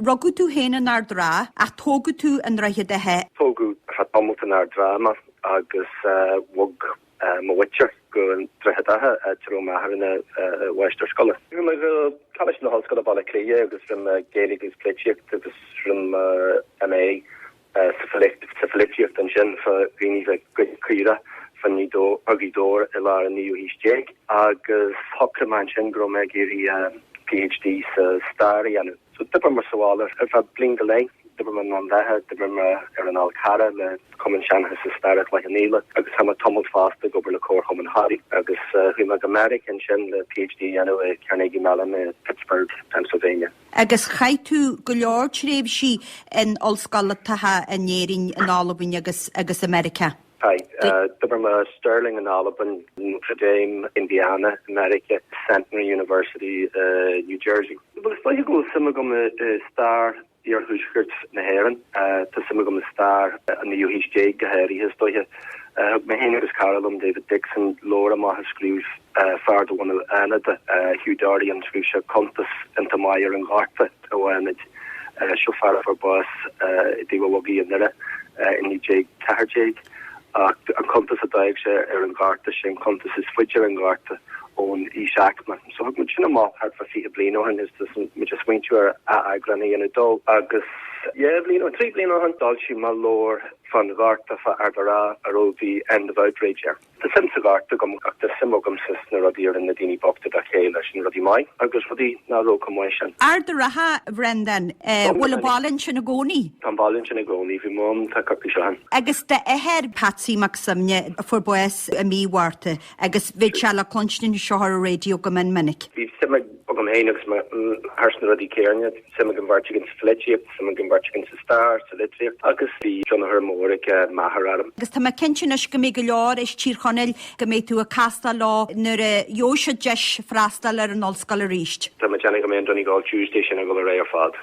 Rugadh tú féin in Ard an Rátha ach tógadh tú i nDroichead Átha. Tógadh ar feadh tamailt in Ard an Rátha mé agus bhog mo mhuintir go Droichead Átha, áit a raibh m'athair ina mháistir scoile. Bhí mé ag Coláiste na hOllscoile Baile Átha Cliath agus rinne mé Gaeilge agus Polaitíocht agus rinne mé MA sa pholaitíocht ansin, fá dhaoine bheith ag goid caoirigh fá Ghaoth Dobhair i lár an naoú haois déag, agus shocraigh mé ansin go raibh mé ag iarraidh PhD sa stair a dhéanamh. So d'oibir mé sa bhaile ar feadh bliain go leith, d'oibir mé i nDún Lúiche, d'oibir mé ar an Fhál Carrach le Cumann Seanchais is Staire Chloich Cheann Fhaola, agus chaith mé tamalt fosta ag obair le Comharchumann Thoraí, agus chuaigh mé go Meiriceá ansin le PhD a dhéanamh i gCarnegie Mellon i Pittsburgh, Pennsylvania. Agus chaith tú go leor tréimhsí in ollscoltacha in Éirinn, in Albain agus agus i Meiriceá. Chaith. D'oibir mé i Stirling in Albain, Notre Dame, Indiana, i Meiriceá, Centenary University i New Jersey. Is dóiche go bhfuil suim agam i stair iarthuaisceart na hÉireann. Tá suim agam i stair an naoú haois déag go háirithe, is dóiche. Thug mé féin agus cara liom, David Dickson, leabhar amach a scríobh fear de bhunadh Fhánada, Hugh Dorian, scríobh sé cuntas iontach maith ar an ghorta i bhFánaid. Seo fear a fuair bás i dTaobh an Bhogaigh i nDoire i 1914 ach an cuntas a d'fhág sé ar an ghorta, sé an cuntas is faide ar an ghorta ón íosaicme. So thug muid sin amach thart fá fiche bliain ó shin is tá muid ag smaointiú ar atheagrán a dhéanamh dó agus dhá bhliain nó trí bliana ó shin d'fhoilsigh mé leabhar fán ghorta fá Ard an Rátha a raibh 'The End of Outrage' air. Tá suim sa ghorta agam, ach tá suim agamsa sna rudaí a rinne na daoine bochta dá chéile, sin rudaí maith agus rudaí nach raibh chomh maith sin. Ard an Rátha, a Bhreandáin. Bhfuil an baile ansin i gcónaí? Tá an baile ansin i gcónaí. Bhí mé ann tá coicís ó shin. Agus d'athair, Patsy Mac Suibhne, a fuair bás i mí Mhárta, agus bhí sé le cluinstin anseo ar an raidió go mion minic. Bhí suim ag. agam féin agus m'athair sna rudaí céanna, suim ag an bheirt againn sa pholaitíocht, suim ag an bheirt againn sa stair, sa litríocht agus bhí tionchar mór ag m'athair orm. Agus tá mé cinnte anois go mbeidh go leor as Tír Chonaill go mbeidh tú ag castáil leo nuair a gheobhaidh siad deis freastal ar an ollscoil arís. Tá mé ag déanamh go mbeidh an Donegal Tuesday sin ag dul ar aghaidh ar fad.